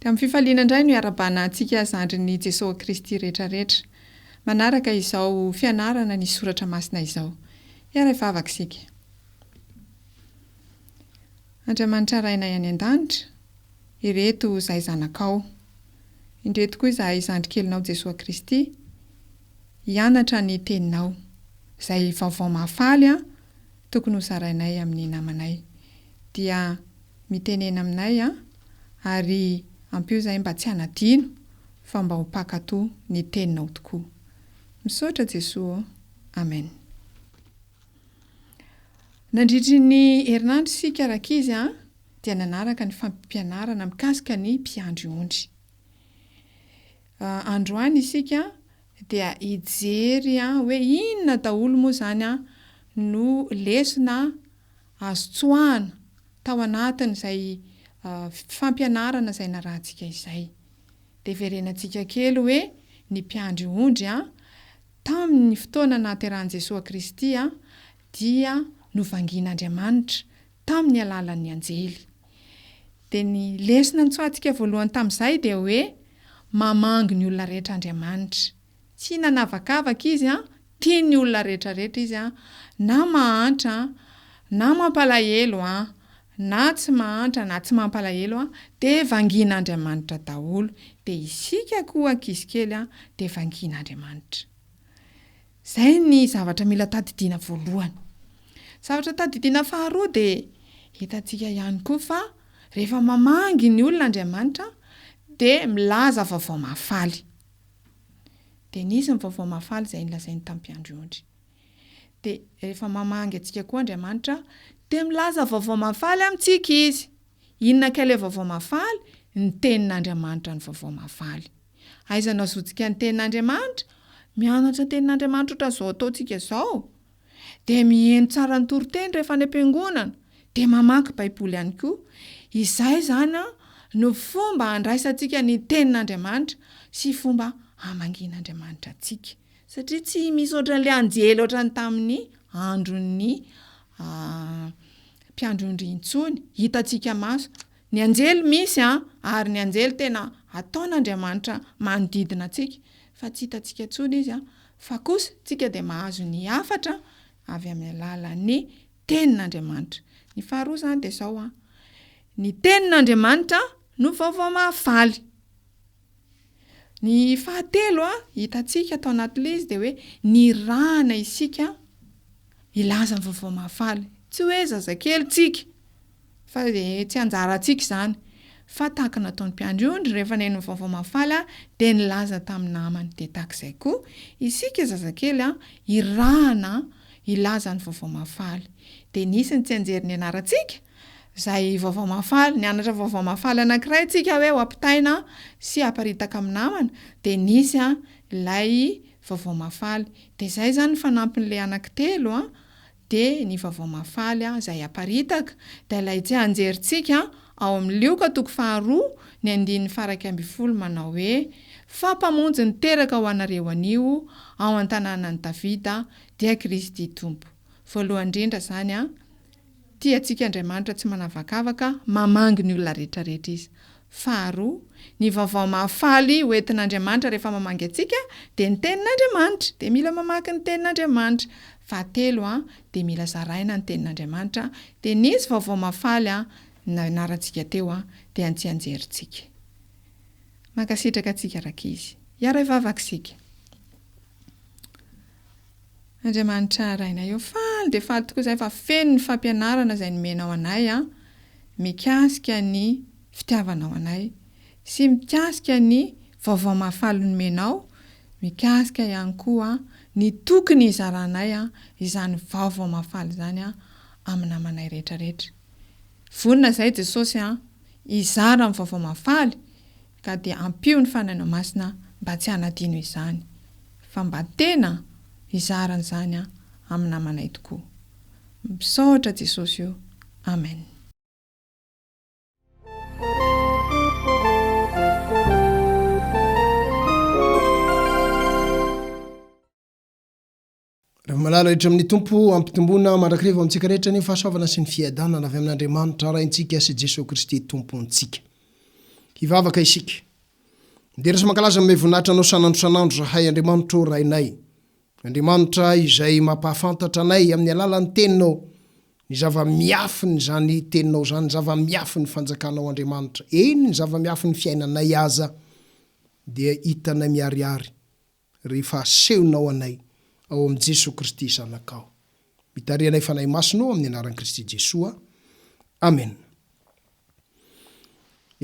Dia amin'ny fifaliana indray no iarabana antsika zandrin'i Jesoa Kristy rehetra rehetra. Manaraka izao fianarana ny soratra masina izao. Hiara-hivavaka isika. Andriamanitra Rainay any an-danitra, ireto izahay zanakao. Indreto koa izahay zandrikelinao Jesoa Kristy. hianatra ny teninao. Izay vaovao mahafaly an, tokony ho zarainay amin'ny namanay. Dia mitenena aminay an, ary ampio izahay mba tsy hanadino fa mba ho mpankatò ny teninao tokoa. Misaotra Jesoa ô. Amen. Nandritry ny herinandro isika rankizy dia nanaraka ny fampianarana mikasika ny mpiandry ondry. Androany isika dia hijery hoe inona daholo moa izany no lesona azo tsoahana tao anatin'izay fampianarana izay narahantsika izay. Deverenantsika kely hoe ny mpiandry ondry tamin'ny fotoana nahaterahan'i Jesoa Kristy dia novangian'Andriamanitra tamin'ny alalan'ny anjely. Dia ny lesona nitsoahantsika voalohany tamin'izay dia hoe, mamangy ny olona rehetra Andriamanitra. Tsy nanavakavaka Izy an, tia ny olona rehetrarehetra Izy an, na mahantra an, na mampalahelo an, na tsy mahantra na tsy mampalahelo an, dia vangin'Andriamanitra daholo. Dia isika koa ankizy kely an, dia vangin'Andriamanitra. Izay ny zavatra mila tadidiana voalohany. Zavatra tadidiana faharoa dia hitantsika ihany koa fa rehefa mamangy ny olona Andriamanitra dia milaza vaovao mahafaly. Dia nisy ny vaovao mahafaly izay nolazainy tamin'i Mpiandry ondry. Dia rehefa mamangy antsika koa Andriamanitra dia milaza vaovao mahafaly amintsika Izy. Inona kay ilay vaovao mahafaly? Ny Tenin'Andriamanitra no vaovao mahafaly. Aiza no azontsika ny tenin'Andriamanitra? Mianatra ny tenin'Andriamanitra ohatran'izao ataontsika izao, dia miheno tsara ny toriteny rehefa any am-piangonana, dia mamaky Baiboly ihany koa. Izay izany no fomba handraisantsika ny tenin'Andriamanitra sy fomba hamangian'Andriamanitra antsika. Satria tsy misy ohatran'ilay anjely ohatran'ny tamin'ny andron'ny mpiandry ondry intsony, hitantsika maso. Ny anjely misy an, ary ny anjely tena ataon'Andriamanitra manodidina antsika, fa tsy hitantsika intsony izy an, fa kosa tsika dia mahazo ny hafatra avy amin'ny alalan'ny tenin'Andriamanitra. Ny faharoa izany dia izao an, ny tenin'Andriamanitra no vaovao mahafaly. Ny fahatelo hitantsika tao anatin'ilay izy dia hoe nirahana isika hilaza ny vaovao mahafaly. Tsy hoe zazakely tsika fa dia tsy anjarantsika izany fa tahaka ny nataon'ny mpiandry ondry rehefa neno ny vaovao mahafaly dia nilaza tamin'ny namany. Dia tahaka izay koa isika zazakely hirahana hilaza ny vaovao mahafaly. Dia nisy ny tsianjery nianarantsika izay vaovao mahafaly, nianatra vaovao mahafaly anankiray tsika hoe ho ampitaina sy aparitaka amin'ny namana dia nisy an ilay vaovao mahafaly dia izay izany ny fanampin'ilay anaky telo an dia ny vaovao mahafaly an izay aparitaka dia ilay tsianjery tsika ao amin'ny lioka toko faharoa ny andininy faraika ambin'ny folo manao hoe fa mpamonjy niteraka ho anareo anio ao an-tananan'i Davida dia Kristy Tompo voalohany indrindra izany an Tia antsika Andriamanitra tsy manavakavaka, mamangy ny olona rehetrarehetra Izy. Faharoa, ny vaovao mahafaly ho entin'Andriamanitra rehefa mamangy antsika dia ny Tenin'Andriamanitra, dia mila mamaky ny Tenin'Andriamanitra. Fahatelo, dia mila zaraina ny Tenin'Andriamanitra, dia nisy vaovao mahafaly nianarantsika teo, dia antsianjerintsika. Mankasitraka antsika rankizy. Hiara-hivavaka isika. Andriamanitra Rainay ô! Faly dia faly tokoa izahay fa feno ny fampianarana izay nomenao anay mikasika ny fitiavanao anay sy mikasika ny vaovao mahafaly nomenao mikasika ihany koa ny tokony hizaranay izany vaovao mahafaly izany amin'ny namanay rehetra rehetra. Vonona izahay Jesosy hizara ny vaovao mahafaly Ka dia ampio ny Fanahinao Masina mba tsy hanadino izany, fa mba tena hizara an'izany amin'ny namanay tokoa. Misaotra Jesosy o. Amen. Ry malala rehetra amin'ny Tompo, ampitomboina mandrakariva ho antsika rehetra ny fahasoavana sy ny fiadanana avy amin'Andriamanitra Raintsika sy Jesoa Kristy Tompontsika. Hivavaka isika. Midera sy mankalaza mahay voninahitra Anao san'andro san'andro zahay, Andriamanitra ô Rainay. Andriamanitra izay mampahafantatra anay amin'ny alalan'ny Teninao ny zava-miafin'izany Teninao izany, ny zava-miafin'ny Fanjakanao Andriamanitra. Eny, ny zava-miafin'ny fiainanay aza dia hitanay miharihary. rehefa asehonao anay ao amin'i Jesoa Kristy Zanakao. Mitari anay Fanahy Masina ô amin'ny anaran'i Kristy Jesoa. Amena.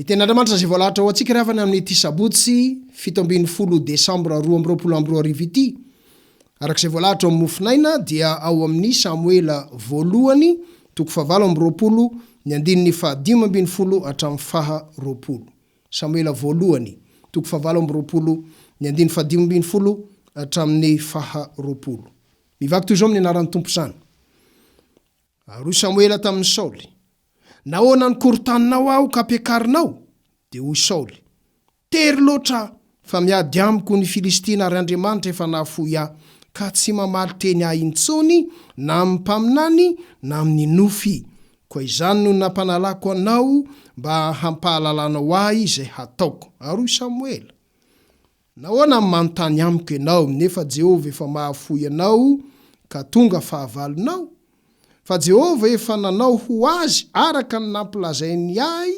Ny Tenin'Andriamanitra izay voalahatra ho antsika ry havana amin'ity sabotsy fito ambin'ny folo desambra roa amby roapolo amby roa arivo ity, araka izay voalahatra ao amin'ny mofonaina, dia ao amin'ny Samoela Voalohany toko fahavalo amby roapolo, ny andininy faha dimy ambin'ny folo hatramin'ny faha roapolo. Samoela Voalohany, toko fahavalo amby roapolo, ny andininy fahadimy ambin'ny folo hatramin'ny faha roapolo. Mivaky toy izao amin'ny anaran'ny Tompo izany. Ary hoy Samoela tamin'i Saoly, Nahoana no korontaninao aho ka ampiakarinao? Dia hoy Saoly, Tery loatra Fa miady amiko ny Filistina ary Andriamanitra efa nahafoy ahy, ka tsy mamaly teny ahy intsony na amin'ny mpaminany na amin'ny nofy. Koa izany no nampanalako anao mba hampahalalanao ahy izay hataoko. Ary hoy Samoela, Nahoana no manontany amiko ianao, nefa Jehovah efa mahafoy anao ka tonga fahavalonao? fa Jehovah efa nanao ho azy araka ny nampilazainy ahy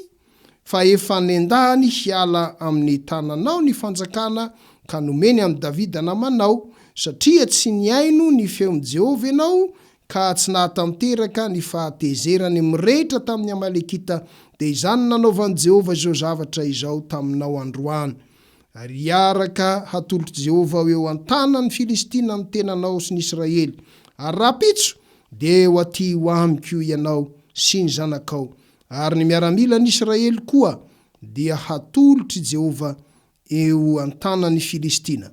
fa efa nendahany hiala amin'ny tananao ny fanjakana ka nomeny an'i Davida namanao, satria tsy nihaino ny feon'i Jehovah ianao ka tsy nahatanteraka ny fahatezerany mirehitra tamin'ny Amalekita, dia izany nanaovan'i Jehovah izao zavatra izao taminao androany. Ary hiaraka hatolotr'i Jehovah ho eo an-tanan'ny Filistina ny tenanao sy ny Israely, ary rahampitso dia eo atỳ ho amiko ianao sy ny zanakao, ary ny miaramilan'Israely koa dia hatolotr'i Jehovah eo an-tanan'ny Filistina.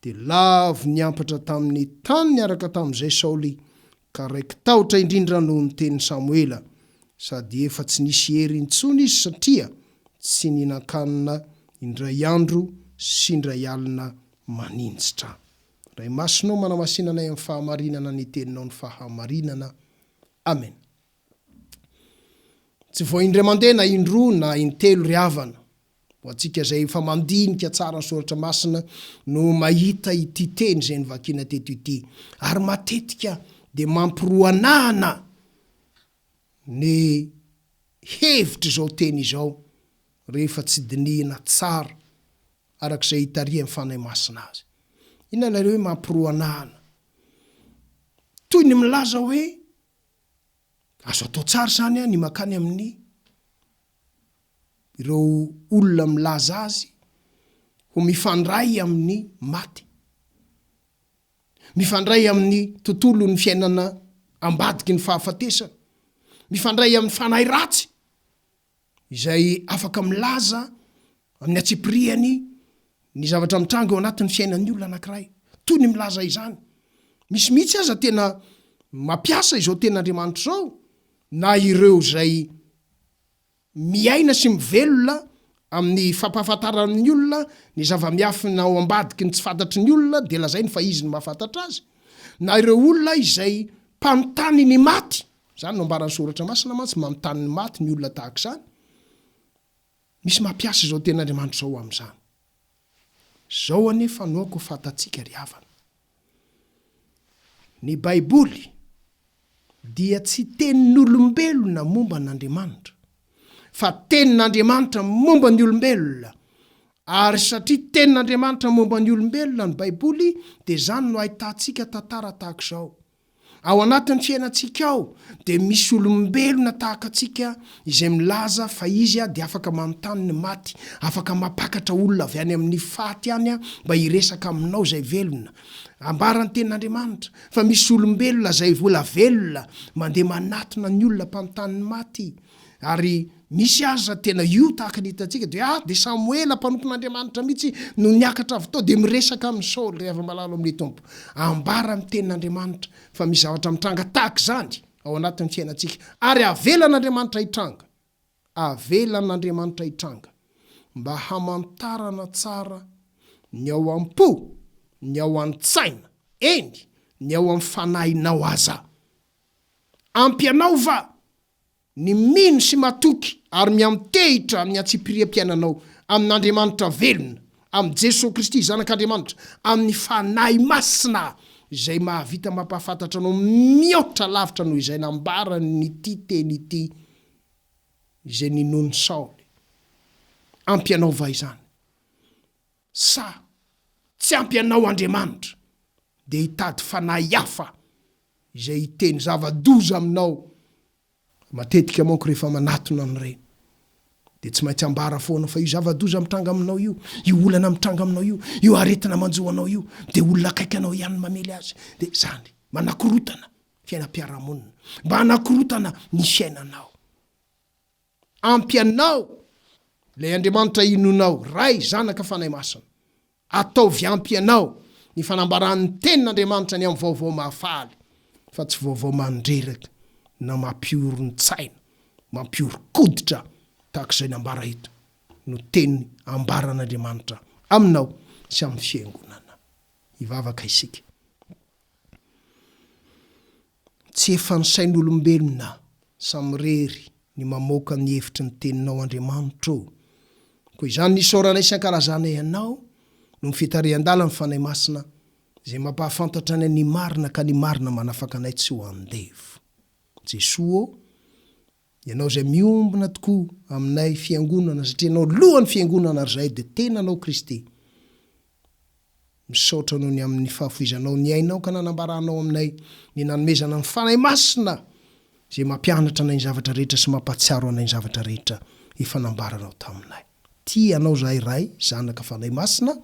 Dia lavo niampatra tamin'ny tany niaraka tamin'izay Saoly Ka raiki-tahotra indrindra noho ny tenin'i Samoela, sady efa tsy nisy hery intsony izy satria tsy nihinan-kanina indray andro sy indray alina maninjitra. Ray Masina ô, manamasina anay amin'ny fahamarinana ny Teninao ny fahamarinana. Amena. Tsy vao indray mandeha na indroa na intelo ry havana. Ho antsika izay efa mandinika tsara ny Soratra Masina no mahita ity teny izay novakina teto ity. Ary matetika dia mampiroanahana ny hevitr' izao teny izao rehefa tsy dinihina tsara araka izay itarihan' ny Fanahy Masina azy. Inona ilay hoe mampiroanahana? Toy ny milaza hoe, Azo atao tsara izany an ny makany amin' ny ireo olona milaza azy ho mifandray amin'ny maty, mifandray amin'ny tontolon'ny fiainana ambadiky ny fahafatesana, mifandray amin'ny fanahy ratsy izay afaka milaza amin'ny antsipirihany ny zavatra mitranga eo anatin'ny fiainan'ny olona anankiray, toy ny milaza izany. Misy mihitsy aza tena mampiasa izao tena Andriamanitra izao na ireo izay miaina sy mivelona amin'ny fampahafantarana ny olona ny zava-miafina ao ambadiky ny tsy fantatry ny olona dia lazainy fa izy no mahafantatra azy, na ireo olona izay mpanontany ny maty, izany no ambaran'ny soratra masina mantsy, manontany ny maty ny olona tahaka izany, misy mampiasa izao tenin'Andriamanitra izao amin'izany. Izao anefa no aoka ho fantatsika ry havana. Ny Baiboly dia tsy tenin'olombelona momba an'Andriamanitra, fa tenin'Andriamanitra momba ny olombelona. Ary satria tenin'Andriamanitra momba ny olombelona ny Baiboly, dia izany no ahitantsika tantara tahaka izao. Ao anatin'ny fiainantsika ao dia misy olombelona tahaka antsika izay milaza fa izy dia afaka manontany ny maty, afaka mampakatra olona avy any amin'ny faty any mba hiresaka aminao izay velona. Ambaran'ny Tenin'Andriamanitra fa misy olombelona izay vola velona mandeha manatona ny olona mpanontany ny maty. Ary misy aza tena io tahaka ny hitantsika dia ah dia Samoela mpanompon'Andriamanitra mihitsy no niakatra avy tao dia miresaka amin'i Saoly ry hava-malalo amin'ny Tompo. Ambara amin'ny tenin'Andriamanitra fa misy zavatra mitranga tahaka izany ao anatin'ny fiainantsika ary avelan'Andriamanitra hitranga. Avelan'Andriamanitra hitranga mba hamantarana tsara ny ao am-po, ny ao an-tsaina, eny, ny ao amin'ny fanahinao aza. Ampy anao va? Ny mino sy matoky ary miantehitra amin'ny antsipiriam-piainanao amin'Andriamanitra velona, amin'i Jesoa Kristy Zanak'Andriamanitra, amin'ny Fanahy Masina izay mahavita mampahafantatra anao mihoatra lavitra noho izay nambaran'ity teny ity izay ninoan'i Saoly. Ampy anao va izany? Sa tsy ampy anao Andriamanitra dia hitady fanahy hafa izay hiteny zava-doza aminao, matetika manko rehefa manatona an'ireny dia tsy maintsy ambara foana fa io zava-doza mitranga aminao io, io olana mitranga aminao io, io aretina manjo anao io dia olona akaiky anao ihany no mamely azy, dia izany, manakorotana fiainam-piarahamonina, mba hanakorotana ny fiainanao. Ampy anao ilay Andriamanitra inoanao, Ray, Zanaka, Fanahy Masina. Ataovy ampy ianao ny fanambaran'ny Tenin'Andriamanitra ny amin'ny vaovao mahafaly, fa tsy vaovao mandreraka na mampihoron-tsaina, mampihoron-koditra tahaka izay nambara eto, no teny ambaran'Andriamanitra aminao sy amin'ny Fiangonana. Hivavaka isika. Tsy efan'ny sain'olombelona samirery ny mamoaka ny hevitry ny teninao Andriamanitra ô! Koa izany ny isaorana isan-kalazanay Anao noho ny fitarihan-dalan'ny Fanahy Masina izay mampahafantatra anay ny marina ka ny marina manafaka anay tsy ho andevo. Jesoa ô! Ianao izay miombona tokoa aminay fiangonana satria ianao lohan'ny fiangonana ary izahay dia tenanao Kristy. Misaotra Anao ny amin'ny fahafoizanao ny ainao ka nanambaranao aminay ny nanomezana ny Fanahy Masina izay mampianatra anay ny zavatra rehetra sy mampahatsiaro anay ny zavatra rehetra efa nambaranao taminay. Tia Anao izahay Ray, Zanaka, Fanahy Masina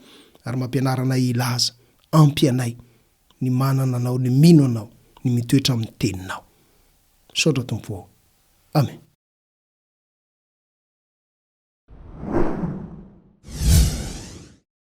ary mampianara anay hilaza. Ampy anay ny manana Anao, ny mino Anao, ny mitoetra amin'ny Teninao. Misaotra Tompo ô! Amen.